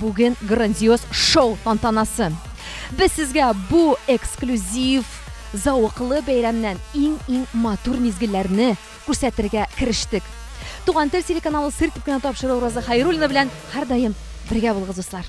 Бүген грандиоз шоу тантанасы. Без сезгә бу эксклюзив зауыклы бәйрәмнән иң-иң матур мизгелләрне күрсәтергә керештек. Туган тел телеканалы сыр итеп кенә тапшыру Роза Хайруллина белән һәрдаим бергә булыгыз, дуслар.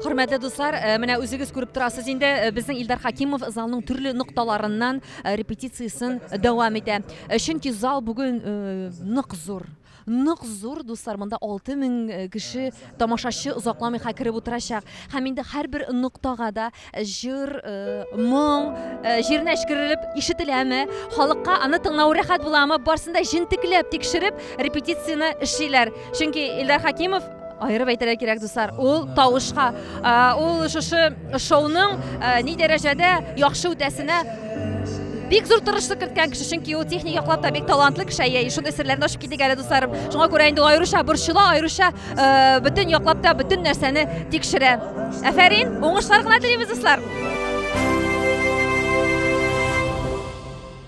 Хөрмәтле дуслар, э, менә үзегез күреп торасыз инде, э, безнең Илдар Хакимов залның төрле нокталарыннан э, репетициясен дәвам итә. Чөнки зал бүген нык зур. Нык зур, дуслар, монда 6000 кеше тамашачы озакламый ха кереп утырачак. Һәм инде һәрбер ноктага да җыр, моң, җиренә эчкерелеп ишетеләме, халыкка аны тыңлау рәхәт буламы, барсында җентекләп тикшереп репетицияне эшлиләр. Чөнки Илдар Хакимов Аерып әйтергә кирәк, дуслар, ул тавышка, ул шушы шоуның ни дәрәҗәдә яхшы үтәсенә бик зур тырышлык керткән кеше, чөнки ул техник яклап та бик талантлы кеше, әйе, шундый серләрне ачып китик әле, дусларым. Шуңа күрә инде аеруча борчыла, аеруча бөтен яклап та бөтен нәрсәне тикшерә. Әфәрин, уңышлар гына телибез, дуслар!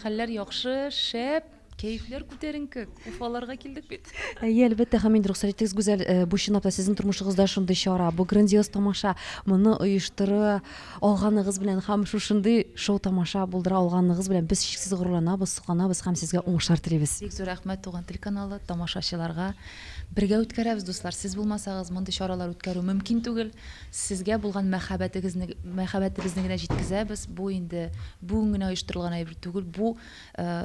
Хәлләр яхшы, шәп, кәефләр күтәренке, Уфаларга килдек бит. Әйе, әлбәттә, һәм инде рөхсәт итегез, Гүзәл, бу чынлап та сезнең тормышыгызда шундый чара, бу грандиоз тамаша, моны оештыра алганыгыз белән һәм шушындый шоу-тамаша булдыра алганыгыз белән без чиксез горурланабыз, сокланабыз һәм сезгә уңышлар телибез. Бик зур рәхмәт Туган тел каналы, тамашачыларга. Бергә үткәрәбез, дуслар, сез булмасагыз, мондый чаралар үткәрү мөмкин түгел. Сезгә булган мәхәббәтегезне мәхәббәтебезне генә җиткезәбез, бу инде бүген генә оештырылган әйбер түгел, бу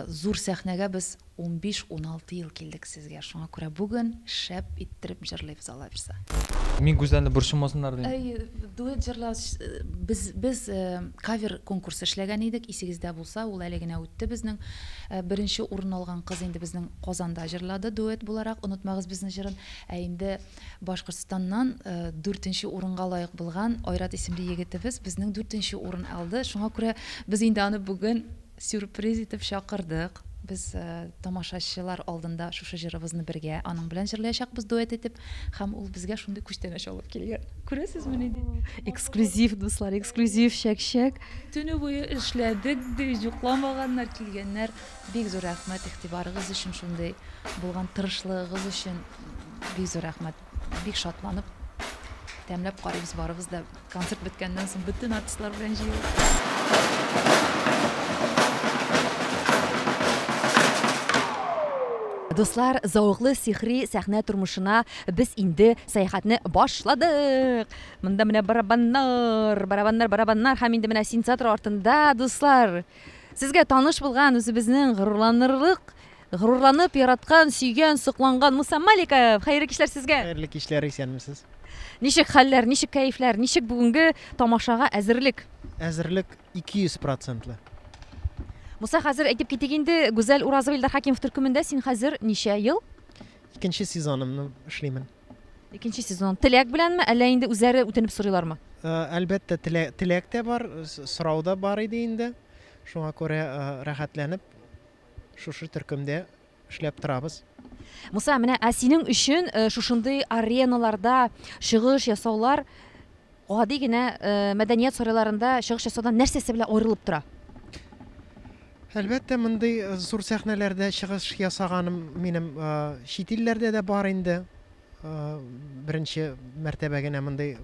зур сәхнәгә без унбиш-уналты ел килдек сезгә, шуңа күрә бүген шәп иттереп җырлыйбыз, Алла бирса. Мин Гүзәлне борчымасыннар дим. Әйе, дуэт җырлау, без, без кавер конкурсы эшләгән идек, исегездә булса, ул әле генә үтте безнең. Беренче урын алган кыз инде безнең Казанда җырлады дуэт буларак Онытмагыз безне җырын, ә инде Башкортстаннан дүртенче урынга лаек булган Айрат исемле егетебез безнең дүртенче урын алды. Шуңа күрә без инде аны бүген сюрприз итеп чакырдык. Без тамашачылар алдында шушы җырыбызны бергә аның белән җырлаячакбыз дуэт итеп. Һәм ул безгә шундый күчтәнәч алып килгән. Күрәсезме нинди? Эксклюзив, дуслар, эксклюзив, чәк-чәк. Төне буе эшләдек, ди, йокламаганнар, килгәннәр. Бик зур рәхмәт игътибарыгыз өчен шундый булган тырышлыгыгыз өчен бик зур рәхмәт бик шатланып тәмләп карыйбыз барыбыз да концерт беткәннән соң бөтен артистлар белән җыелып Дуслар, зәвыклы сихри сәхнә тормышына без инде сәяхәтне башладык! Монда менә барабаннар, барабаннар, барабаннар һәм инде менә синтезатор артында, дуслар! Сезгә таныш булган үзебезнең горурланырлык, горурланып яраткан, сөйгән, сокланган Муса Маликов! Хәерле кичләр сезгә! Хәерле кичләр, исәнмесез! Ничек хәлләр, ничек кәефләр, ничек бүгенге тамашага әзерлек? Әзерлек 200 процентлы. Муса, хәзер әйтеп китик инде, Гүзәл Уразова, Илдар Хәкимов төркемендә син хәзер ничә ел? Икенче сезонымны эшлимен. Икенче сезон теләк беләнме, әллә инде үзләре үтенеп сорыйлармы? Э, әлбәттә, теләк тә бар, сорау да бар иде инде. Шуңа күрә э, рәхәтләнеп шушы төркемдә эшләп торабыз. Муса, менә ә синең өчен э, шушындый ареналарда чыгыш ясаулар Гади генә мәдәният сарайларында чыгыш ясаудан нәрсәсе белән аерылып тора? Әлбәттә, мондый зур сәхнәләрдә чыгыш ясаганым минем чит илләрдә дә бар инде. Беренче мәртәбә генә мондый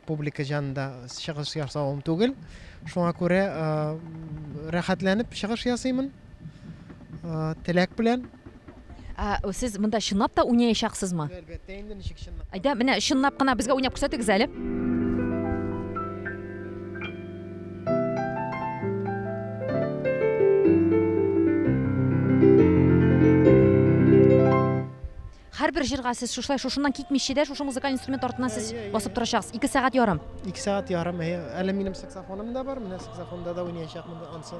публика җанында чыгыш ясавым түгел. Шуңа күрә рәхәтләнеп чыгыш ясыймын. Теләк белән. Ә сез монда чынлап та уйнаячаксызмы? Әлбәттә инде, ничек чынлап. Әйдә, менә чынлап кына безгә уйнап күрсәтегез әле. Һәрбер җырга сез шушылай шушыннан китмичә дә шушы музыкаль инструмент артыннан сез басып торачаксыз. 2 сәгать ярым. Ике сәгать ярым. Әле минем саксофоным да бар. Менә саксофонда да уйнаячакмын ансы.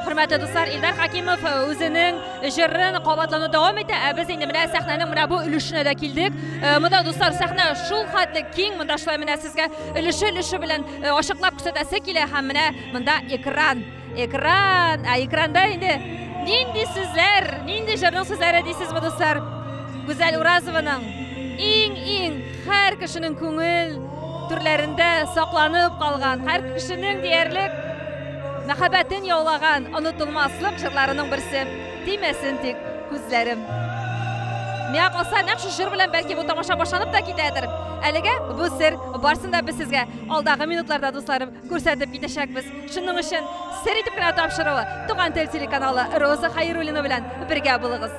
Хөрмәтле дуслар, Илдар Хакимов э, үзенең җырын кабатлауны дәвам итә, ә без инде менә сәхнәнең менә бу өлешенә дә килдек. Э, монда дуслар, сәхнә шул хәтле киң, монда шулай менә сезгә өлеше-өлеше белән э, ачыклап күрсәтәсе килә һәм менә монда экран. Экран, ә экранда инде нинди сүзләр, нинди җырның сүзләре дисезме дуслар? Гүзәл Уразованың иң-иң һәр кешенең күңел Түрләрендә сакланып калган, һәр кешенең диярлек мәхәббәтен яулаган онытылмаслык җырларының берсе. Тимәсен тик күзләрем. Миңа калса, нәкъ шу җыр белән бәлки бу тамаша башланып та китәдер. Әлегә бу сер, барсын да без сезгә алдагы минутларда, дусларым, күрсәтеп китәчәкбез. Шуның өчен сер итеп кенә тапшыруы Туган тел телеканалы Роза Хәйруллина белән бергә булыгыз.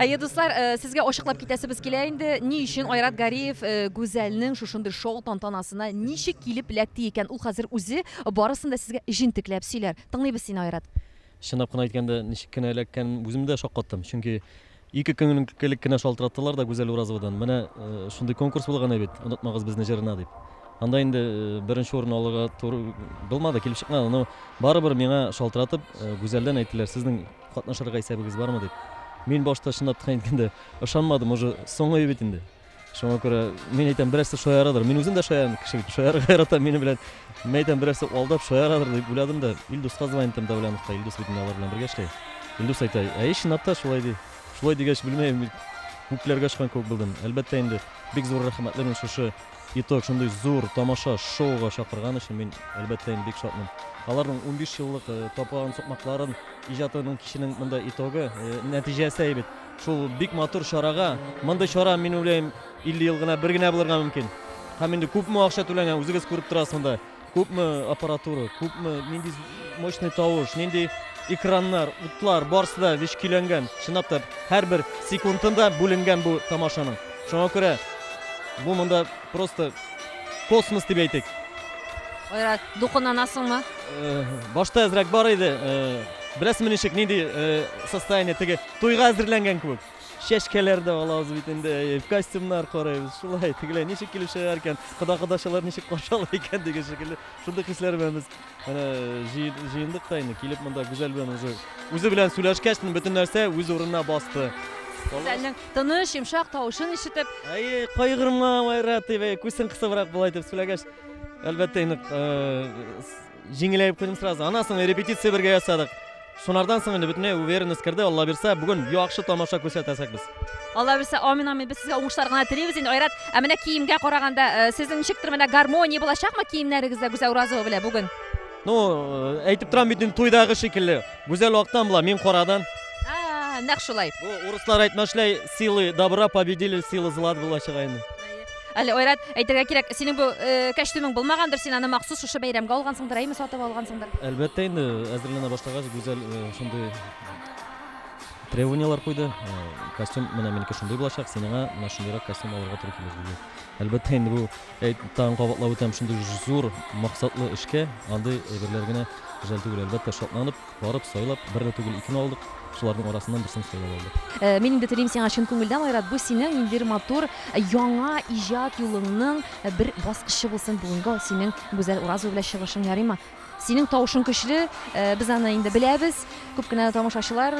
Әйе, дуслар, э, сезгә ачыклап китәсебез килә инде, ни өчен Айрат Гариев э, Гүзәлнең шушындый шоу тантанасына ничек килеп эләкте икән? Ул хәзер үзе барысын да сезгә җентекләп сөйләр. Тыңлыйбыз сине, Айрат. Чынлап кына әйткәндә, ничек кенә эләккән, үзем дә шаккаттым. Чөнки ике көн элек кенә шалтыраттылар да Гүзәл Уразовадан. Менә э, шундый конкурс булган бит, онытмагыз безне җырына дип. Анда инде э, беренче урын алырга туры булмады, килеп чыкмады. Но барыбер миңа шалтыратып, э, Гүзәлдән әйттеләр, сезнең Катнашырга исәбегез бармы дип. Мин башта чынлап та әйткәндә ышанмадым, уже соңгы бит инде. Шуңа күрә мин әйтәм, берәрсе шаярадыр. Мин үзем дә шаян кеше бит, шаярга яратам мине белән. Мин әйтәм, берәрсе алдап шаярадыр дип уйладым да, Илдуска звонить итәм Давляновка, Илдус бит алар белән бергә эшли. Илдус әйтә, әй, чынлап та шулай ди. Шулай дигәч, белмәем, күкләргә очкан кебек булдым. Әлбәттә инде, бик зур рәхмәтле мин шушы Итог, шундый зур тамаша, шоуга чакырган өчен мин, әлбәттә, инде бик шатмын. Аларның унбиш еллык таплаган сукмакларын, иҗатының киченең монда итогы, нәтиҗәсе әйбит. Шул бик матур чарага, мондый чара, мин уйлыйм, 50 ел гына бер генә булырга мөмкин. Һәм инде күпме акча түләнгән, үзегез күреп торасыз монда. Күпме аппаратура, күпме, нинди мощный тавыш, нинди экраннар, утлар, барысы да вич көйләнгән. Чынлап та, һәрбер секундында бүленгән бу тамашаның. Шуңа күрә бу монда просто космос дип әйтик. Айрат, духынанасыңмы? Э, башта әзрәк бар иде. Э, Беләсеңме ничек, нинди э, состояние теге туйга әзерләнгән кебек. Чәчкәләр дә алабыз бит инде, әйе, костюмнар карыйбыз, шулай, тегеләй ничек килеп чыгар икән, кода-кодачалар ничек каршы ала икән дигән шикелле, шундый хисләр белән без менә җыендык та инде, килеп монда Гүзәл белән уже үзе белән сөйләшкәч, бөтен нәрсә үз урынына басты. Гүзәлнең тыныч, йомшак тавышын ишетеп. Әйе, кайгырма, Майра, дип, күзен кысыбрак болай дип сөйләгәч, әлбәттә, инде Җиңеләеп куйдым сразу. Анасын репетиция бергә ясадык. Шунардан соң инде бөтенләй уверенность керде. Алла бирсә, бүген яхшы тамаша күрсәтәсәк без. Алла бирсә, амин, амин. Без сезгә уңышлар гына телибез. Инде Айрат, ә менә киемгә караганда, э, сезнең ничектер менә гармония булачакмы киемнәрегездә Гүзәл Уразова белән бүген? Ну, э, әйтеп торам бит инде туйдагы шикелле. Гүзәл актан була, мин карадан. А, нәкъ шулай. Бу урыслар әйтмешләй, силы добра победили силы зла булачак инде. Әле Айрат, әйтергә кирәк, синең бу кәчтүмең булмагандыр, син аны махсус шушы бәйрәмгә алгансыңдыр, әйме, сатып алгансыңдыр? Әлбәттә инде, әзерләнә башлагач, Гүзәл шундый требованияләр куйды. Костюм менә минеке шундый булачак, синеңа менә шундыйрак костюм алырга туры килер диде. Әлбәттә инде бу тагын кабатлап үтәм, шундый зур максатлы эшкә андый әйберләр генә җәл түгел, әлбәттә шатланып Барып, сайлап, берне түгел, икене алдык. Шуларның арасыннан берсен сайлап алдык. Мин инде телим сиңа чын күңелдән, Айрат, бу синең ин бер матур яңа иҗат юлыңның бер баскычы булсын бүгенге ул синең Гүзәл Уразова белән чыгышың, ярыймы? Синең тавышың көчле, без аны инде беләбез. Күп кенә тамашачылар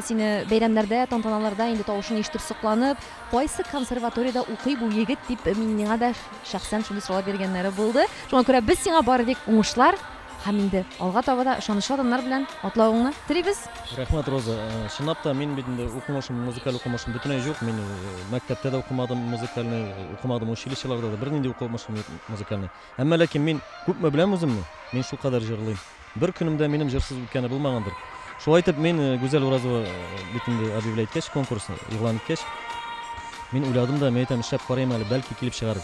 сине бәйрәмнәрдә, тантаналарда инде тавышың ишетеп сокланып, кайсы консерваториядә укый бу егет дип миңа да шәхсән шундый сораулар биргәннәре булды. Шуңа күрә без сиңа бары тик уңышлар, Һәм инде алга таба да ышанычлы адымнар белән атлавыңны телибез! Рәхмәт, Роза. Чынлап та, мин бит инде укымышым, музыкаль укымышым бөтенләй җук. Мин мәктәптә дә укымадым музыкальный, укымадым училищеларда да, бернинди укымышым юк музыкальный. Әмма ләкин мин күпме беләм үземне, мин шулкадәр җырлыйм. Бер көнем дә минем җырсыз үткәне булмагандыр. Шулай итеп, мин Гүзәл Уразова бит инде объявлять иткәч, конкурсны игълан иткәч, мин уйладым да, мин әйтәм, эшләп карыйм әле, бәлки килеп чыгар.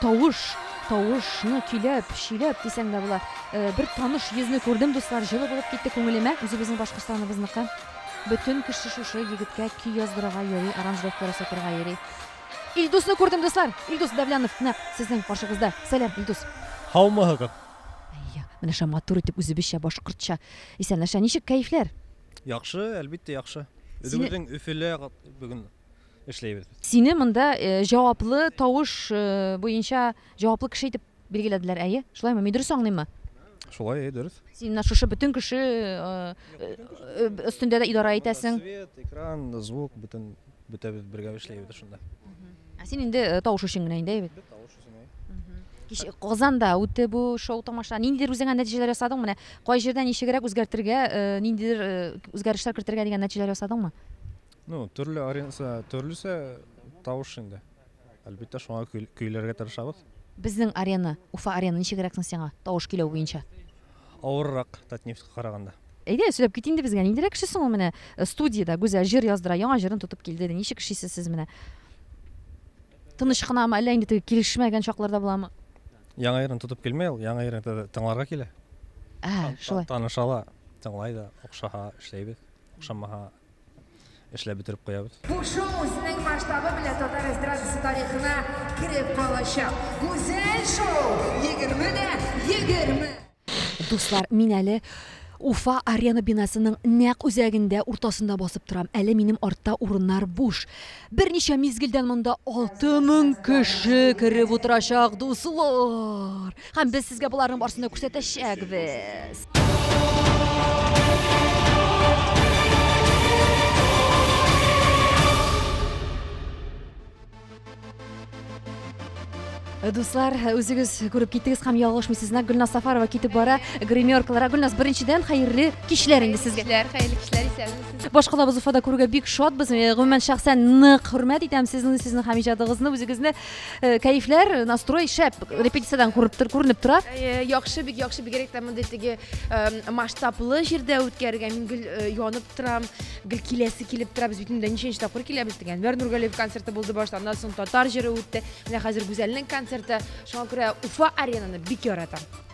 Тавыш, тавыш, ны көйләп, чөйләп дисәң дә була. Бер таныш йөзне күрдем, дуслар, җылы булып китте күңелемә, үзебезнең Башкортстаныбызныкы. Бөтен кеше шушы егеткә көй яздырырга йөри, аранжировка ясатырга йөри. Илдусны күрдем, дуслар! Илдус Давлянов нәкъ сезнең каршыгызда. Сәлам, Илдус! Һаумыһыгыз! Әйе, менә шулай матур итеп үзебезчә башкортча исәнләшә. Ничек кәефләр? Яхшы, әлбиттә яхшы. Үзебезнең Өфөлә бүген. эшләйбез без. Сине монда җаваплы тавыш буенча җаваплы кеше итеп билгеләделәр, әйе? Шулаймы? Мин дөрес аңлыйммы? Шулай, әйе, дөрес. Син менә шушы бөтен кеше өстендә дә идарә итәсең. Свет, экран, звук, бөтен бөтәбез бергә эшләйбез шунда. Ә син инде тавыш өчен генә инде, әйе? Тавыш өчен, әйе. Казанда үтте бу шоу-тамаша. Ниндидер үзеңә нәтиҗәләр ясадыңмы? Менә кай җирдә ничегрәк үзгәртергә, ниндидер үзгәрешләр кертергә дигән нәтиҗәләр ясадыңмы? Ну, төрле аренса, төрлесе тавыш инде. Әлбәттә, шуңа көйләргә тырышабыз. Безнең арена, Уфа арена ничегрәк соң сиңа, тавыш көйләү буенча? Авыррак Татнефтька караганда. Әйдә, сөйләп кит инде безгә, ниндирәк кеше соң ул менә э, студиядә Гүзәл җыр яздыра, яңа җырын тотып килде. Ничек эшлисез сез менә? Тыныч кынамы, әллә инде теге килешмәгән чакларда буламы? Яңа җырын тотып килмәй ул, яңа җырын тыңларга килә. Ә, шулай. Танышала, тыңлай да, охшаһа эшләйбез, охшамаһа эшләп бетереп куябыз. Бу шоу үзенең масштабы белән татар эстрадасы тарихына кереп калачак. Гүзәл шоу! Егерме дә егерме! Дуслар, мин әле Уфа Арена бинасының нәкъ үзәгендә, уртасында басып торам. Әле минем артта урыннар буш. Берничә мизгелдән монда алты мең кеше кереп утырачак, дуслар! Һәм без сезгә боларның барсын да күрсәтәчәкбез. Э, дуслар э, үзегез күреп киттегез һәм ялгышмый сезнә гөлназ сафарова китеп бара гримеркаларга гөлназ беренчедән хәерле кичләр инде сезгә кичләр хәерле кичләр исәнмесез башкалабыз уфада күрүгә бик шатбыз э, гомумән шәхсән нык хөрмәт итәм сезне сезнең һәм иҗадыгызны үзегезне Э, кәефләр э, настрой шәп репетициядән күренеп тора э, яхшы бик яхшы бигрәк тә мондый теге масштаблы җирдә үткәрергә мин гел янып торам гел киләсе килеп тора без бит инде ничәнче тапкыр киләбез дигән әнвәр нургалиев концерты булды башта аннан соң татар җыры үтте менә хәзер гүзәлнең концерты шуңа күрә уфа аренаны бик яратам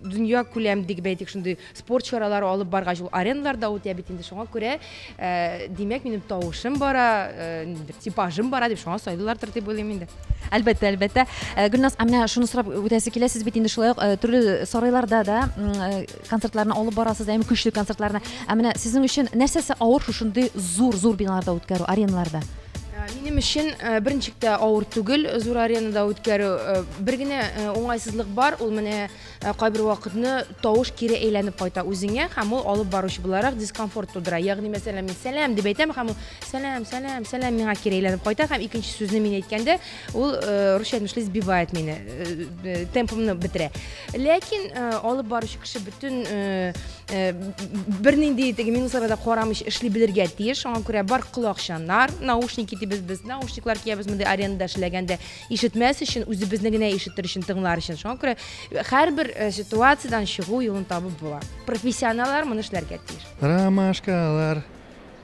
дөнья күләм дип әйтик шундый спорт чаралары алып баргач ул ареналар да үтә бит инде шуңа күрә э, димәк минем тавышым бара э, ниндидер типажым бара дип шуңа сайлыйлардыр дип уйлыйм инде әлбәттә әлбәттә э, гөлназ ә менә шуны сорап үтәсе килә сез бит инде шулай ук төрле сарайларда да концертларны алып барасыз әм көчле концертларны ә менә сезнең өчен нәрсәсе авыр шушындый зур зур биналарда үткәрү ареналарда Э, минем өчен э, беренче тә авыр түгел зур аренада үткәрү э, бер генә уңайсызлык бар ул менә кайбер вакытны тавыш кире әйләнеп кайта үзеңә һәм ул алып баручы буларак дискомфорт тудыра ягъни мәсәлән мин сәлам дип әйтәм һәм ул сәлам сәлам сәлам миңа кире әйләнеп кайта һәм икенче сүзне мин әйткәндә ул русча әйтмешли сбивает мине темпымны бетерә ләкин алып баручы кеше бөтен Э, бернинди теге минусларга да карамыйча эшли белергә тиеш шуңа күрә бар колакчаннар наушники дибез без наушниклар киябез мондый арендада эшләгәндә ишетмәс өчен үзебезне генә ишетер өчен тыңлар өчен шуңа күрә э, һәрбер э, ситуациядән чыгу юлын табып була профессионаллар моны эшләргә тиеш ромашкалар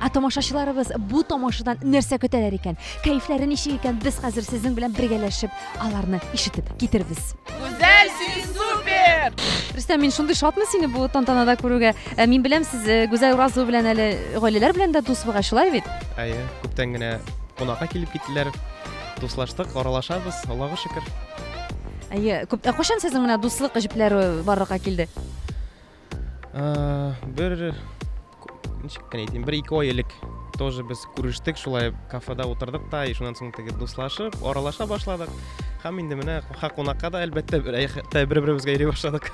Ә тамашачыларыбыз бу тамашадан нәрсә көтәләр икән? Кәефләре ничек икән? Без хәзер сезнең белән бергәләшеп аларны ишетеп китербез. Гүзәл, син супер! Рөстәм, мин шундый шатмын сине бу тантанада күрүгә. Ә мин беләм, сез э, Гүзәл Уразова белән әле гаиләләр белән дә дус бугай, шулай бит? Әйе, күптән генә кунакка килеп киттеләр. Дуслаштык, аралашабыз, Аллага шөкер. Әйе, күп... ә кайчан сезнең менә дуслык җепләре барлыкка килде? бер ничек кенә әйтим бер ике ай элек тоже без күрештек шулай кафеда утырдык та и шуннан соң теге дуслашып аралаша башладык һәм инде менә ха кунакка да әлбәттә бер беребезгә йөри башладык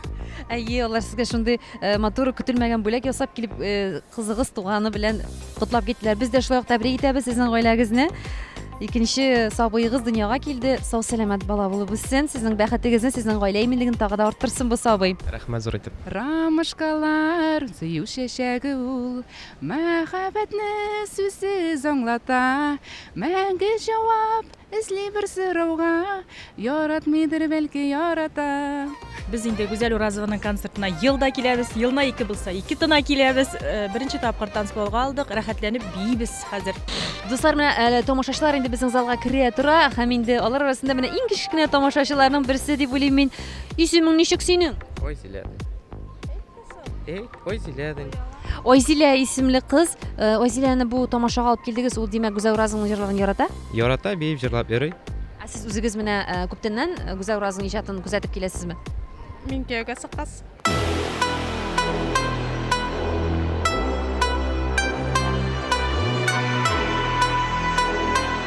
әйе алар сезгә шундый э, матур көтелмәгән бүләк ясап килеп э, кызыгыз туганы белән котлап киттеләр без дә шулай ук тәбрик итәбез сезнең гаиләгезне Икенче сабыегыз дөньяга килде. Сау сәламәт бала булып үссен. Сезнең бәхетегезне, сезнең гаилә иминлеген тагы да арттырсын бу сабый. Рәхмәт зур итеп. Рамышкалар, сөю чәчәге ул, Мәхәббәтне сүзсез аңлата. Мәңге җавап эзли бер сорауга, Яратмыйдыр бәлки ярата. Без инде Гүзәл Уразованың концертына ел да киләбез, елына ике булса, ике тына киләбез. Э, беренче тапкыр танцполга алдык, рәхәтләнеп биибез хәзер. Дуслар, менә әле тамашачылар инде безнең залга керә тора, һәм инде алар арасында менә иң кечкенә тамашачыларның берсе дип уйлыйм мин. Исемең ничек синең? Василия. Эй, ой, зелядень. Айзилә исемле кыз. Э, Айзиләне бу тамашага алып килдегез. Ул димәк Гүзәл Уразовның җырлаган ярата. Ярата, биеп җырлап йөри. Ә сез үзегез менә э, күптәннән э, Гүзәл Уразовның иҗатын күзәтеп киләсезме? Мин кияүгә сыккас.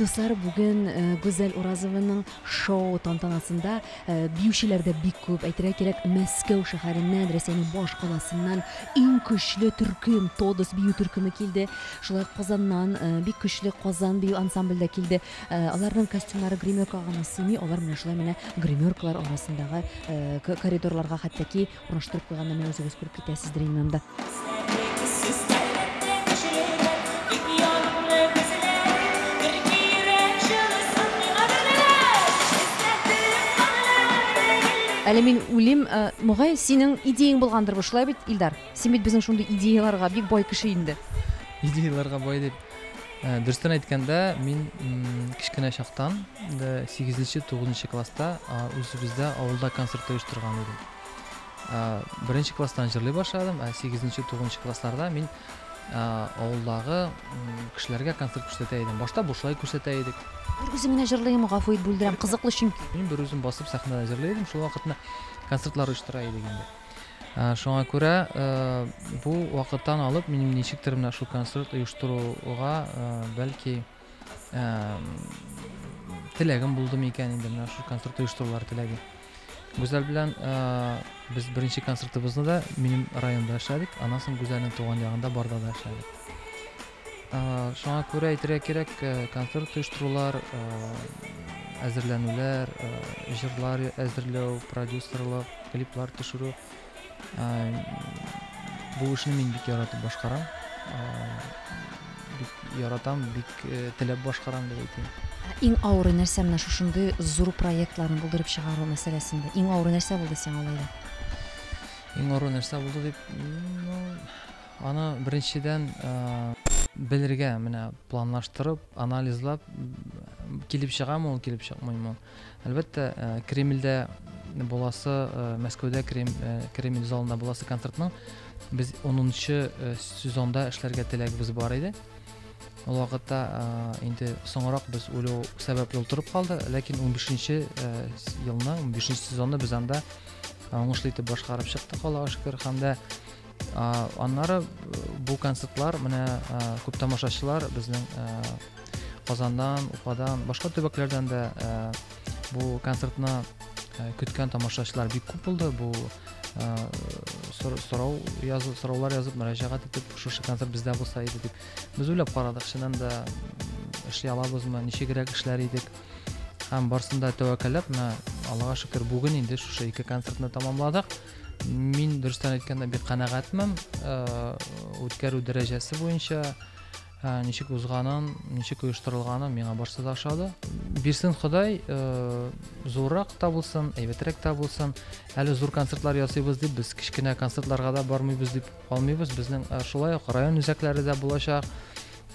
Дуслар, бүген Гүзәл Уразованың шоу тантанасында биючеләр дә бик күп. Әйтергә кирәк, Мәскәү шәһәреннән, Рәсәйнең баш каласыннан иң көчле төркем, Тодос бию төркеме килде. Шулай ук Казаннан бик көчле Казан бию ансамбле дә килде. Аларның костюмнары гримеркага гына сыймый, алар менә шулай менә гримеркалар арасындагы коридорларга хәтта ки Кураштырып куйганнарны үзегез күреп китәсездер инде анда. Әле мин үлим, э, мөгаен синең идеяң булгандыр бу, шулай бит, Илдар? Син бит безнең шундый идеяларга бик бай кеше инде. Идеяларга бай дип. Э, дөрестән әйткәндә, мин кечкенә чактан, 8 нче 9 класста үзебездә авылда концерт оештырган идем. Беренче класстан җырлый башладым, ә 8-нче, 9-нчы классларда мин авылдагы кешеләргә концерт күрсәтә идем. Башта бушлай күрсәтә идек. Бер үзем генә җырлыйм, гафу ит, бүлдерәм, кызыклы чөнки. Мин бер үзем басып сәхнәдә җырлый идем, шул вакытны концертлар оештыра идек инде. Шуңа күрә бу вакыттан алып минем ничектер менә шул концерт оештыруга бәлки теләгем булды микән инде менә шул концерт оештырулар теләге гүзәл белән без беренче концертыбызны да минем районда эшләдек аннан соң гүзәлнең туган ягында барда да эшләдек шуңа күрә әйтергә кирәк концерт оештырулар әзерләнүләр җырлар әзерләү продюсерлык клиплар төшерү Бу эшне мин бик яратып башкарам. Бик яратам, бик теләп башкарам дип әйтим. Иң авыры нәрсә менә шушындый зур проектларны булдырып чыгару мәсьәләсендә? Иң авыры нәрсә булды сиңа алай да? Иң авыры нәрсә булды дип, ну, аны беренчедән белергә, менә планлаштырып, анализлап килеп чыгамы ул, килеп чыкмыймы? Әлбәттә, Кремльдә буласы, Мәскәүдә Кремль залында буласы концертның без 10-нчы сезонда эшләргә теләгебез бар иде. Ул вакытта инде соңрак без үлү сәбәпле утырып калды, ләкин 15-нче елны, 15-нче сезонны без анда уңышлы итеп башкарып чыктык, Аллага шөкер, һәм дә аннары бу концертлар менә күп тамашачылар безнең казаннан уфадан башка төбәкләрдән дә бу концертны көткән тамашачылар бик күп булды бу сорау язып сораулар язып мөрәҗәгать итеп шушы концерт бездә булса иде дип без уйлап карадык чыннан да эшли алабызмы ничегрәк эшләр идек һәм барсын да тәвәкәлләп менә аллага шөкер бүген инде шушы ике концертны тәмамладык Мин дөрестән әйткәндә бик канәгатьмен. Үткәрү дәрәҗәсе буенча ничек узганын, ничек оештырылганын миңа барсы да ошады. Бирсен Ходай, зуррак та булсын, әйбәтрәк тә булсын. Әле зур концертлар ясыйбыз дип, без кечкенә концертларга да бармыйбыз дип калмыйбыз. Безнең шулай ук район үзәкләре дә булачак.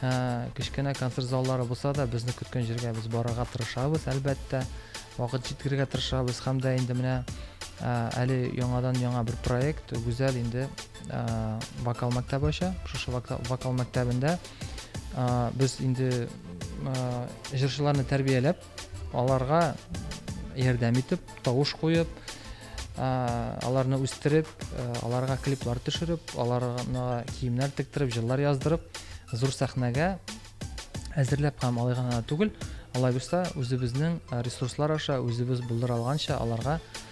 Ә кечкенә концерт заллары булса да, безне көткән җиргә без барырга тырышабыз, әлбәттә. Вакыт җиткерергә тырышабыз һәм дә инде менә әле яңадан яңа бер проект, Гүзәл инде вокал мәктәбе ача. Шушы вокал мәктәбендә без инде җырчыларны тәрбияләп Аларга ярдәм итеп, тавыш куеп, аларны үстереп, аларга клиплар төшереп, аларга киемнәр тектереп, җырлар яздырып, зур сәхнәгә әзерләп һәм алай гына түгел, алай булса, үзебезнең ресурслар аша, үзебез булдыра алганча аларга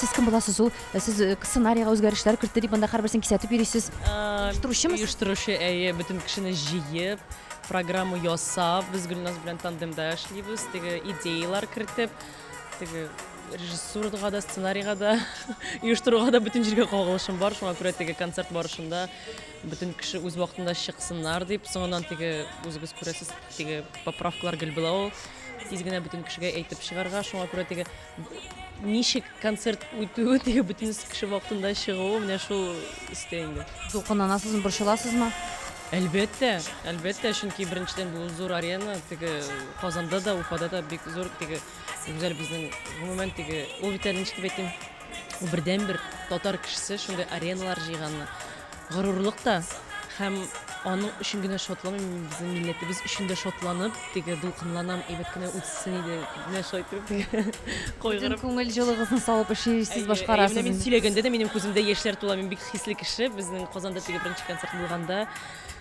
Сез кем буласыз ул? Э, сез э, сценарийга үзгәрешләр кертте дип анда һәрберсен кисәтеп йөрисез. Оештыручымы сез? Оештыручы, әйе, бөтен кешене җыеп, программа ясап, без Гөлназ белән тандемда эшлибез, теге идеялар кертеп, теге режиссурага да, сценарийга да, оештыруга да бөтен җиргә кагылышым бар, шуңа күрә теге концерт барышында бөтен кеше үз вакытында чыксыннар дип, соңыннан теге үзегез күрәсез, теге поправкалар гел була ул. тиз генә бөтен кешегә әйтеп чыгарга, шуңа күрә теге ничек концерт үтүе, теге бөтен кеше вакытында чыгуы менә шул истә инде. Дулкынланасызмы, борчыласызмы? Әлбәттә, әлбәттә, чөнки беренчедән бу зур арена, теге Казанда да, Уфада да бик зур, теге гүзәл безнең, гомумән, теге ул бит әле ничек дип әйтим, Ул бердәнбер татар кешесе шундый ареналар җыйганы горурлык та һәм аның өчен генә шатланмыйм, мин безнең милләтебез өчен дә шатланып, теге дулкынланам, әйбәт кенә үтсен иде, менә шулай итеп теге Бөтен күңел җылыгызны салып эшлисез, башкарасыз. Менә мин сөйләгәндә дә минем күземдә яшьләр тула, мин бик хисле кеше, безнең Казанда теге беренче концерт булганда,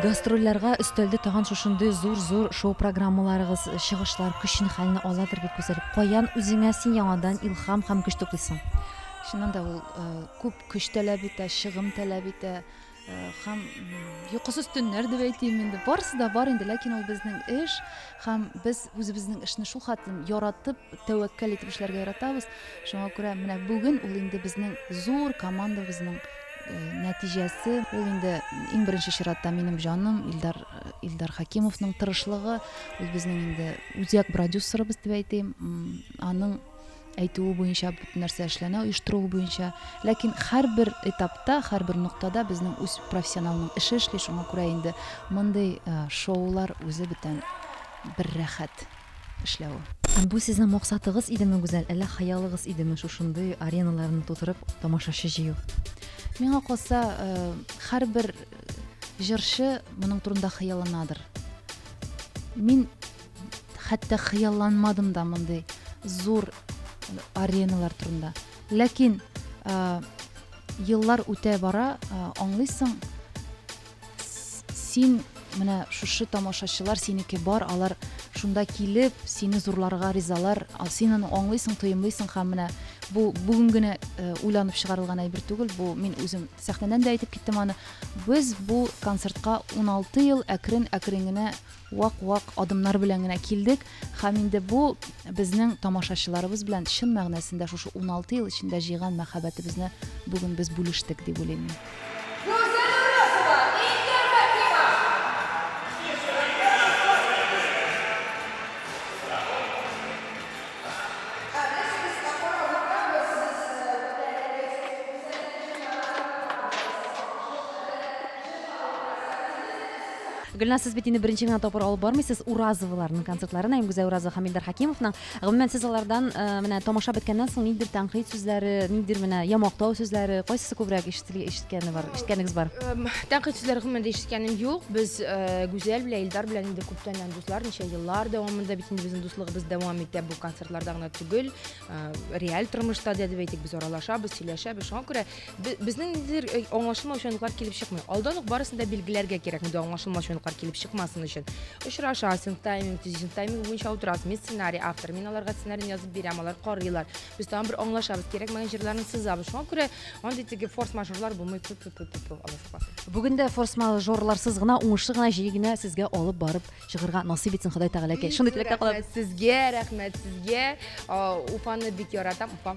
Гастрольләргә өстәлде тагын шушындый зур зур шоу программаларыгыз, чыгышлар көчне хәлне аладыр бит күзәлеп. Каян үзеңә син яңадан илхам һәм көч туплыйсың? Чыннан да ул күп көч таләп итә, чыгым таләп итә. Һәм йокысыз төннәр дип әйтим инде. Барысы да бар инде, ләкин ул безнең эш һәм без үзебезнең эшне шул хатын яратып, тәвәккәл итеп эшләргә яратабыз. Шуңа күрә менә бүген ул инде безнең зур командабызның э, нәтиҗәсе. Ул инде иң беренче чиратта минем җаным Илдар Илдар Хакимовның тырышлыгы, ул безнең инде үзәк продюсерыбыз дип әйтим. Аның әйтүе буенча бөтен нәрсә эшләнә оештыруы буенча ләкин һәрбер этапта һәрбер ноктада безнең үз профессионалның эше эшли шуңа күрә инде мондый э, шоулар үзе бүтән бер рәхәт эшләве бу сезнең максатыгыз идеме гүзәл әллә хыялыгыз идеме шушындый ареналарны тутырып тамашачы җыю миңа калса э, һәрбер җырчы моның турында хыялланадыр мин хәтта хыялланмадым да мондый зур ареналар турында. Ләкин ә, еллар үтә бара, ә, аңлыйсың, син менә шушы тамашачылар синеке бар, алар шунда килеп, сине зурларга ризалар, син аны аңлыйсың, тоемлыйсың һәм менә бу бүген генә э, уйланып чыгарылган әйбер түгел бу мин үзем сәхнәдән дә әйтеп киттем аны без бу концертка 16 ел әкрен әкрен генә вак-вак адымнар белән генә килдек һәм инде бу безнең тамашачыларыбыз белән чын мәгънәсендә шушы 16 ел эчендә җыйган мәхәббәтебезне бүген без бүлештек дип уйлыйм мин. Гөлназ, сез бит инде беренче генә тапкыр алып бармыйсыз Уразоваларның концертларын, Аймгүзә Уразова һәм Илдар Хәкимовның. Гомумән, сез алардан э, менә тамаша беткәннән соң нидер тәнкыйть сүзләре, нидер менә ямактау сүзләре, кайсысы күбрәк ишетелгән ишеткәне бар, ишеткәнегез бар? Эм, Тәнкыйть сүзләре гомумән дә ишеткәнем юк. Без э, Гүзәл белән Илдар белән инде күптәннән дуслар, ничә еллар дәвамында бит инде безнең дуслыгыбыз дәвам итә. Бу концертларда гына түгел, э, реаль тормышта да дип әйтик, без аралашабыз, сөйләшәбез. Шуңа күрә Безнең ниндидер э, аңлашылмаучы моментлар килеп чыкмый. Алдан ук барысын да билгеләргә кирәк, инде аңлашылмаучы моментлар килеп чыкмасын өчен. Очрашасың, тайминг төзисең, тайминг буенча утырасың. Мин сценарий автор, мин аларга сценарийны язып бирәм, алар карыйлар. Без тагын бер аңлашабыз, кирәкмәгән җирләрен сызабыз. Шуңа күрә андый теге форс-мажорлар булмый. Бүген дә форс-мажорларсыз гына, уңышлы гына, җиңел генә сезгә алып барып чыгырга насыйп итсен Ходай Тәгалә. Шундый теләктә калабыз. Сезгә, рәхмәт сезгә. Уфаны бик яратам. Уфа.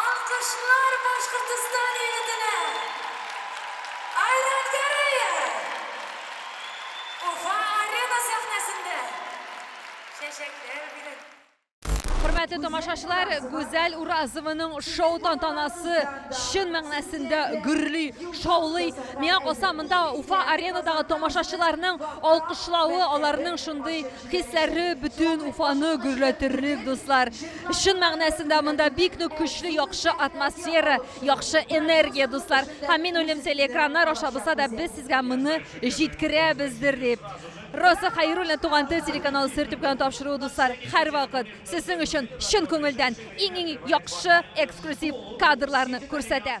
Алкышлар Башкортостан егетенә! Айрат Гәрәев! Уфа-Арена сәхнәсендә чәчәкләр бирә. Хөрмәтле тамашачылар, Гүзәл Уразованың шоу тантанасы чын мәгънәсендә гөрли, шаулый. Миңа калса, монда Уфа аренадагы тамашачыларның алкышлавы, аларның шундый хисләре бөтен Уфаны гөрләтерлек, дуслар. Чын мәгънәсендә монда бик нык көчле, яхшы атмосфера, яхшы энергия, дуслар. Һәм мин уйлыйм, телеэкраннар аша булса да без сезгә моны җиткерәбездер дип. Роза Хәйруллина Туган тел телеканалы сер төпкән тапшыруы дуслар һәрвакыт сезнең өчен чын күңелдән иң-иң яхшы эксклюзив кадрларны күрсәтә.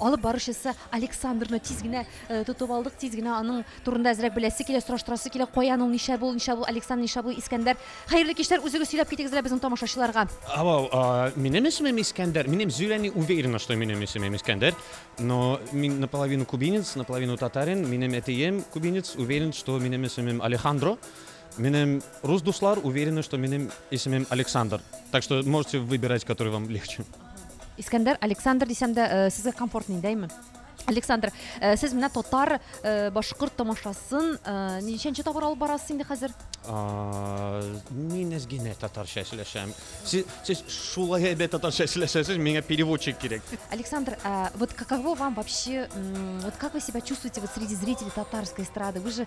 Алып баручысы Александрны тиз генә тотып алдык, тиз генә аның турында әзрәк беләсе килә, сораштырасы килә, каян ул, ничә бу, ничә бу Александр, ничә бу Искәндәр. Хәерле кичләр, үзегез сөйләп китегез әле безнең тамашачыларга. Алло, минем исемем Искәндәр, минем зөйлә не уверена, что минем исемем Искәндәр, но мин наполовину кубинец, наполовину татарин, минем әтием кубинец, уверен, что минем исемем Алехандро, Минем рус дуслар уверены, что минем исемем Александр. Так что можете выбирать, который вам легче. Искәндәр, Александр дисәм дә, э, сезгә комфортный, дәйме? Александр, э, сез менә татар, э, башкорт тамашасын, э, ничәнче тапкыр алып барасыз инде хәзер? А, Мин әз генә татарча сөйләшәм. Сез, сез шулай әйбәт татарча сөйләшәсез, миңа переводчик кирәк. Александр, а вот каково вам вообще, м, вот как вы себя чувствуете вот среди зрителей татарской эстрады? Вы же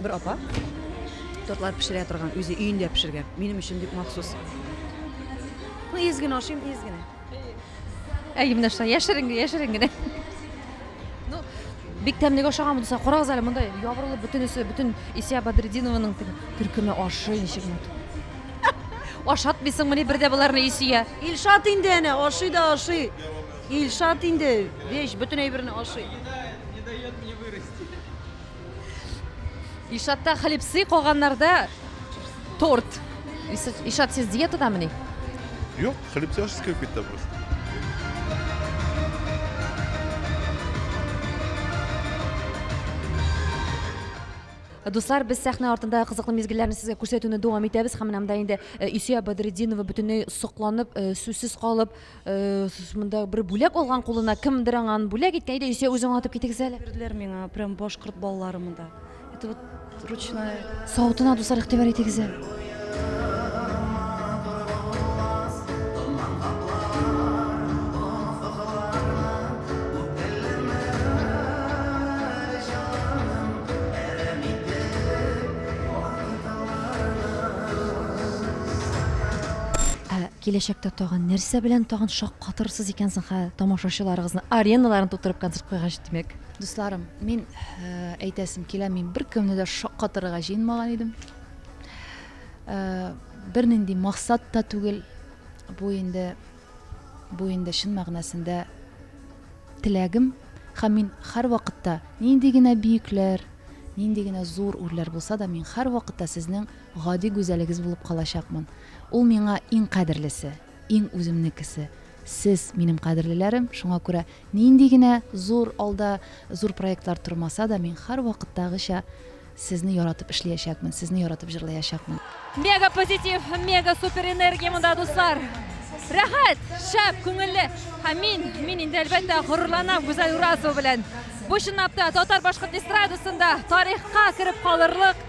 Бер апа тортлар пешерә торган, үзе өендә пешергән. Минем өчен дип махсус. Ну, ез генә ашыйм, ез генә. Әйе, менә шулай, яшерен, яшерен генә. Ну, бик тәмлегә ашаган булса, карагыз әле, монда ябырылып бөтенесе, бөтен Исия Бадрединованың төркеме ашый ничек мут. Ашатмыйсыңмыни бер дә боларны Исия? Илшат инде әнә, ашый да ашый. Илшат инде, вещь, бөтен әйберне ашый. Ишатта хлебцы, калганнарда торт. Ишат, сез диетадамыни? Юк, хлебцы ашыгыз килеп китте просто. Дуслар, без сәхнә артында кызыклы мизгелләрне сезгә күрсәтүне дәвам итәбез һәм менә монда инде Исия Бадретдинова бөтенләй сокланып, сүзсез калып, Э, монда бер бүләк алган кулына кемдер аңа аны бүләк иткән иде исә үзең атып китегез әле бирделәр миңа прям башкорт балаларымы да это вот ручная савытына дуслар игътибар итегез әле Киләчәктә тагын нәрсә белән тагын шаккатырырсыз икән соң хә тамашачыларыгызны? Ареналарны тутырып концерт куйгач, димәк. Дусларым, мин әйтәсем килә, мин беркемне дә шаккатырырга җыенмаган идем. Бернинди максат та түгел. Бу инде бу инде чын мәгънәсендә теләгем һәм мин һәрвакытта нинди генә бөекләр, нинди генә зур үрләр булса да, мин һәрвакытта сезнең Гади гүзәлегез булып калачакмын. Ул миңа иң кадерлесе, иң үземнекесе, сез, минем кадерлеләрем, шуңа күрә нинди генә зур алда зур проектлар тормаса да, мин һәрвакыттагыча сезне яратып эшлиячәкмен, сезне яратып җырлаячакмын. Мега позитив, мега супер энергия монда, дуслар! Рәхәт, шәп, күңелле! Һәм мин, мин инде, әлбәттә, горурланам Гүзәл Уразова белән. Бу, чынлап та, татар-башкорт эстрадасында тарихка кереп калырлык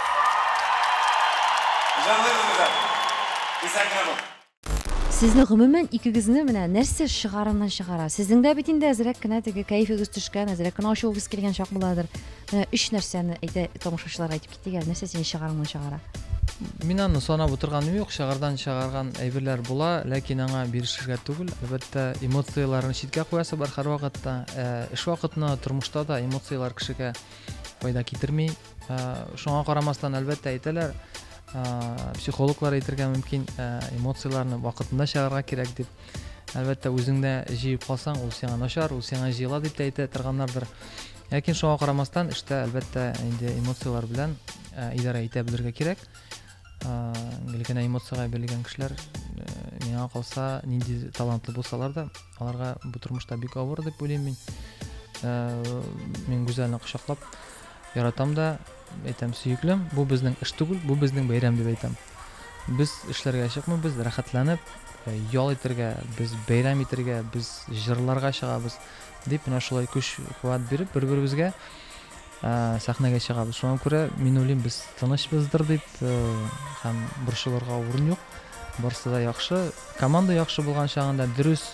Сезне гомумән икегезне менә нәрсә шыгарыннан шыгара? Сезнең дә бит инде әзрәк кенә теге кәефегез төшкән, әзрәк кенә ачуыгыз килгән чак буладыр. Менә өч нәрсәне әйтә тамашачылар әйтеп китик әле, нәрсә сине шыгарыннан шыгара? Мин аны санап утырганым юк, шыгардан шыгарган әйберләр була, ләкин аңа бирешергә түгел. Әлбәттә, эмоцияләрне читкә куясы бар һәрвакытта. Ә, эш вакытына, тормышта да эмоцияләр кешегә файда китерми. шуңа карамастан әлбәттә әйтәләр психологлар әйтергә мөмкин эмоцияләрне вакытында чыгарырга кирәк дип әлбәттә үзеңдә җыеп калсаң ул сиңа начар ул сиңа җыела дип тә әйтә торганнардыр ләкин шуңа карамастан эштә әлбәттә инде эмоцияләр белән идарә итә белергә кирәк гел генә эмоциягә бирелгән кешеләр миңа калса нинди талантлы булсалар да аларга бу тормышта бик авыр дип уйлыйм мин мин гүзәлне кочаклап Яратам да, әйтәм, сөеклем, бу безнең эш түгел, бу безнең бәйрәм дип әйтәм. Без эшләргә чыкмыйбыз, рәхәтләнеп, э, ял итәргә, без бәйрәм итәргә, без җырларга чыгабыз дип менә шулай көч куәт биреп бер беребезгә э, сәхнәгә чыгабыз шуңа күрә мин уйлыйм без тынычбыздыр дип э, һәм борчылырга урын юк барысы да яхшы команда яхшы булган чагында дөрес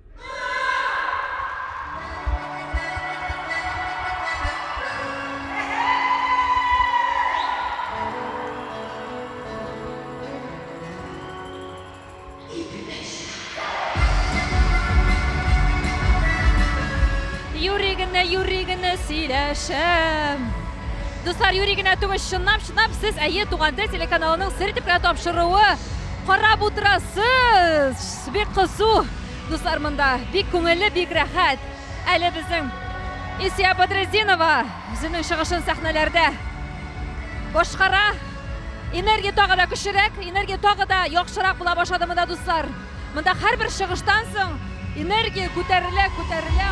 Юри генә, юри генә сөйләшәм. Дуслар, юри генә түгел, чынлап, чынлап сез әйе туган тел телеканалының сер итеп кенә тапшыруы карап утырасыз. Бик кызу, дуслар, монда. Бик күңелле, бик рәхәт. Әле безнең Исия Бадретдинова үзенең чыгышын сәхнәләрдә башкара. Энергия тагы да көчлерәк, энергия тагы да яхшырак була башлады монда, дуслар. Монда һәрбер чыгыштан соң энергия күтәрелә, күтәрелә.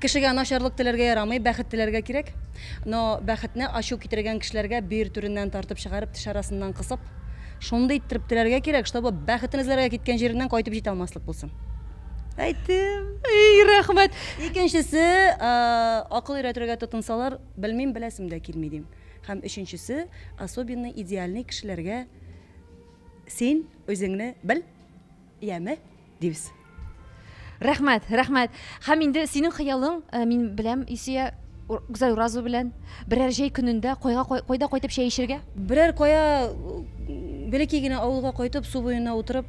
Кешегә начарлык теләргә ярамый, бәхет теләргә кирәк. Но бәхетне ачу китергән кешеләргә бөер түреннән тартып чыгарып, теш арасыннан кысып, шундый иттереп теләргә кирәк, чтобы бәхетен эзләргә киткән җиреннән кайтып җитә алмаслык булсын. Әйттем! Ий, рәхмәт! Икенчесе, акыл өйрәтергә тотынсалар, белмим, беләсем дә килми, дим. Һәм өченчесе, особенный, идеальный кешеләргә син үзеңне бел, яме? Дибез. Рәхмәт, рәхмәт. Һәм инде синең хыялың, э, мин беләм, Исия, Гүзәл Уразова белән берәр җәй көнендә кайга кайда кайтып чәй эчергә? Берәр кая бәләкәй генә авылга кайтып, су буена утырып,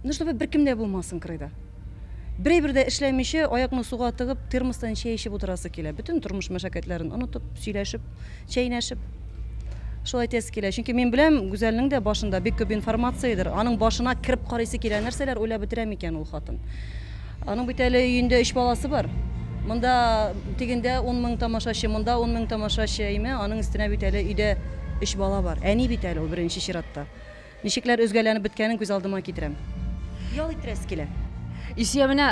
ну чтобы беркем дә булмасын кырыйда. Берәй бер дә эшләмичә, аякны суга тыгып, термостан чәй эчеп утырасы килә. Бөтен тормыш мәшәкатьләрен онытып, сөйләшеп. чәйнәшеп. Шулай әйтәсе килә. Чөнки мин беләм, Гүзәлнең дә башында бик күп информациядер. Аның башына кереп карыйсы килә, нәрсәләр уйлап бетерә микән ул хатын. Аның бит әле өендә өч баласы бар. Монда тегендә 10 мең тамашачы, монда 10 мең тамашачы, әйме, аның өстенә бит әле өйдә өч бала бар. Әни бит әле ул беренче чиратта. Ничекләр өзгәләнеп беткәнен күз алдыма китерәм. Ял иттерәсе килә. Илсөя, менә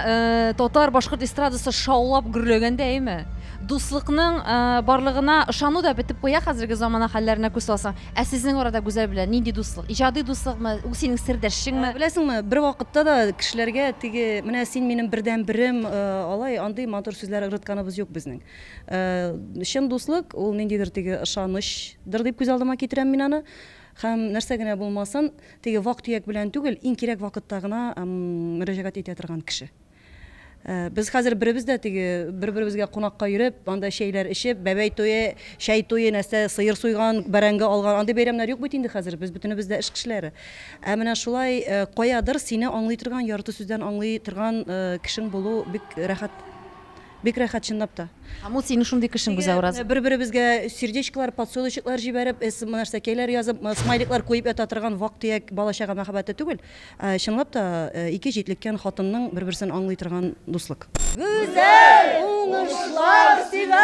татар, башкорт эстрадасы шаулап гөрләгәндәеме? Дуслыкның барлыгына ышану да бетеп куя хәзерге замана хәлләренә күз салсаң. Ә сезнең арада Гүзәл белән нинди дуслык? Иҗади дуслыкмы? Ул синең сердәшчеңме? Беләсеңме, бер вакытта да кешеләргә теге, менә син минем бердән берем, алай, андый матур сүзләр ыргытканыбыз юк безнең. Чын дуслык, ул ниндидер теге ышанычдыр дип күз алдыма китерәм мин аны. Һәм нәрсә генә булмасын, теге вак-төяк белән түгел, иң кирәк вакытта гына мөрәҗәгать итә торган кеше. Без хәзер беребез дә теге бер-беребезгә кунакка йөреп, анда чәйләр эчеп, бәбәй туе, чәй туе, нәрсә, сыер суйган, бәрәңге алган, андый бәйрәмнәр юк бит инде хәзер, без бөтенебез дә эш кешеләре. Ә менә шулай каядыр сине аңлый торган, ярты сүздән аңлый торган кешең булу бик рәхәт. Бик рәхәт чынлап та. Һәм ул синең шундый кешең Бизә ураза. Бер-беребезгә сердечкалар, подсолнечеклар җибәреп, смнарсәкәйләр язып, смайликлар куеп ята торган вак-төяк бала-чага мәхәббәте түгел, ә чынлап та ике җитлеккән хатынның бер-берсен аңлый торган дуслык. Гүзәл! Уңышлар сиңа!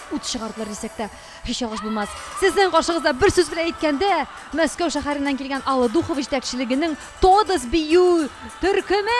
Ут чыгардылар дисәк тә, һич ялгыш булмас. Сезнең каршыгызда, бер сүз белән әйткәндә, Мәскәү шәһәреннән килгән Алла Духова җитәкчелегенең Тодос бию төркеме!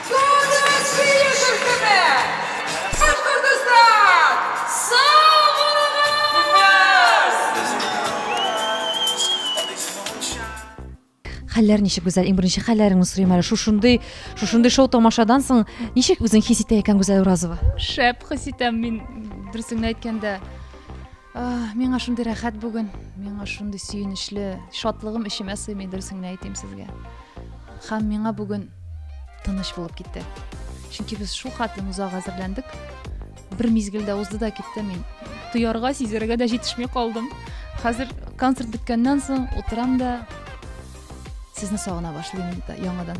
Хәлләр ничек, Гүзәл? Иң беренче хәлләреңне сорыйм әле. Шушындый, шушындый шоу тамашадан соң ничек үзең хис итә икән Гүзәл Уразова? Шәп хис итәм мин, дөресен әйткәндә. Миңа шундый рәхәт бүген, миңа шундый сөенечле, шатлыгым эчемә сыймый дөресен генә әйтим сезгә. Хәм миңа бүген тыныч булып китте. Чөнки без шул хәтле узага әзерләндек. Бер мизгелдә узды да китте мин. Тоярга, сизәргә дә җитешми калдым. Хәзер концерт беткәннән соң утырам да сезне сагына башлыйм инде яңадан.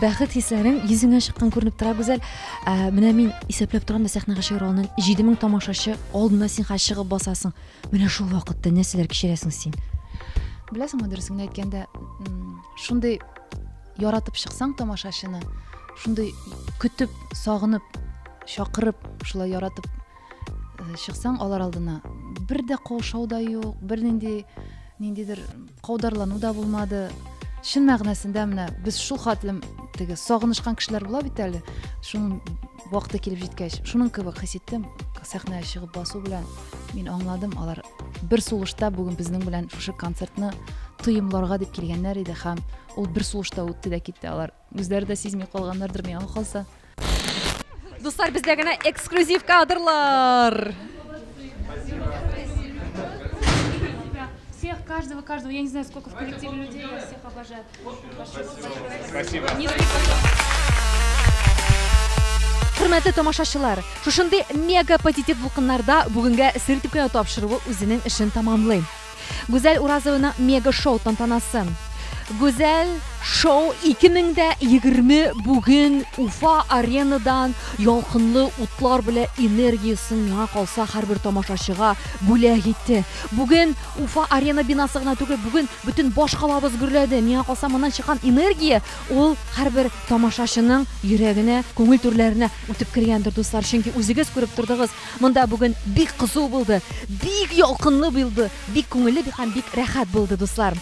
бәхет хисләрең йөзеңә чыккан күренеп тора гүзәл ә, менә мин исәпләп торам да сәхнәгә чыгара алдан җиде мең тамашачы алдына син хәзер чыгып басасың менә шул вакытта нәрсәләр кичерәсең син беләсеңме дөресен әйткәндә шундый яратып чыксаң тамашачыны шундый көтеп сагынып чакырып шулай яратып Э, чыксаң алар алдына бер дә каушау да юк бернинди ниндидер каударлану да булмады чын мәгънәсендә менә без шул хәтлем теге сагынышкан кешеләр була бит әле шуның вакыты килеп җиткәч шуның кебек хис иттем сәхнәгә чыгып басу белән мин аңладым алар бер сулышта бүген безнең белән шушы концертны тоемларга дип килгәннәр иде һәм ул бер сулышта үтте дә китте алар Үзләре дә сизми калганнардыр миңа калса. Дуслар, бездә генә эксклюзив кадрлар. всех, каждого, каждого. Я не знаю, сколько в коллективе людей, я всех обожаю. Спасибо. Хөрмәтле тамашачылар, шушындый мега позитив дулкыннарда бүгенгә сертификат тапшыруы үзенең эшен тәмамлый. Гүзәл Уразованың мега-шоу тантанасы. Гүзәл шоу 2020 бүген Уфа аренадан ялкынлы утлар белә энергиясен миңа калса һәрбер тамашачыга бүләк итте. Бүген Уфа арена бинасы гына түгел, бүген бөтен баш калабыз гөрләде. Миңа калса моннан чыккан энергия ул һәрбер тамашачының йөрәгенә, күңел түрләренә үтеп кергәндер, дуслар. Чөнки үзегез күреп тордыгыз, Монда бүген бик кызу булды, бик ялкынлы булды, бик күңелле һәм бик рәхәт булды, дуслар.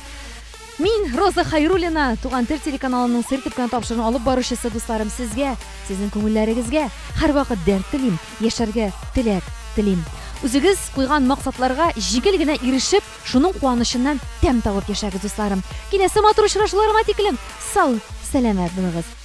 Мин Роза Хайруллина, Туган тел телеканалының сер төпкән тапшырын алып баручысы дусларым сезгә, сезнең күңелләрегезгә һәрвакыт дәрт телим, яшәргә теләк телим. Үзегез куйган максатларга җиңел генә ирешеп, шуның куанычыннан тәм табып яшәгез, дусларым. Киләсе матур очрашуларга тиклем сау, сәламәт булыгыз.